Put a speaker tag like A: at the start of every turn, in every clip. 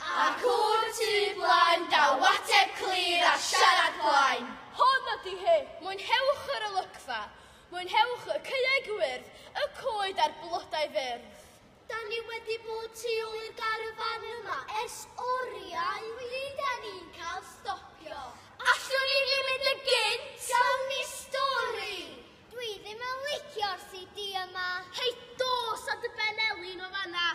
A: Ac o'r tu blaen, daw ateb clir a siarad plaen. Hon ydi hi! Mwynhewch yr olygfa! Mwynhewch y caeau gwyrdd, y coed a'r blodau fyrdd! Da ni wedi bod tu ôl i'r garfan yma ers oriau. Rydan ni'n cael stopio. Allwn ni ddim mynd yn gynt! Gawn ni stori! Dwi ddim yn licio'r CD yma. Hei, dos a dy ben elin o fanna.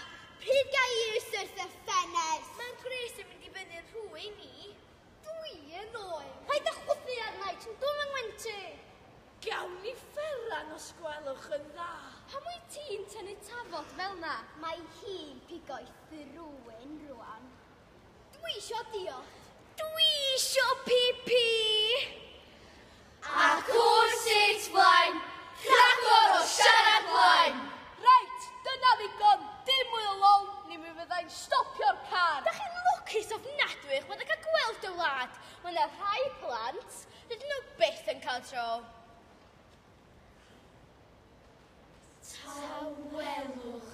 A: Pryd ga i i'r syrth y ffenest? Mae'n gwres yn mynd i fyny'r rhwy ni. Dwi yn oen. Paid â chwythu arna i, ti'n dwm yng Ngwenti. Gawn ni fferan os gwelwch yn dda. Pam wyt ti'n tynnu tafod fel na? Mae hi'n pigo i thrwyn rwan. Dwi isio diolch. Dwi isio pipi! Ac o'r sut flaen, rhagor o siarad flaen! Reit, dyna ddigon, dim mwy o lol, ni mi fyddai'n stopio'r car! Da chi'n lwcus ofnadwy eich bod yn cael gweld y wlad! Mae yna rhai plant, dydyn nhw byth yn cael tro. Tawelwch.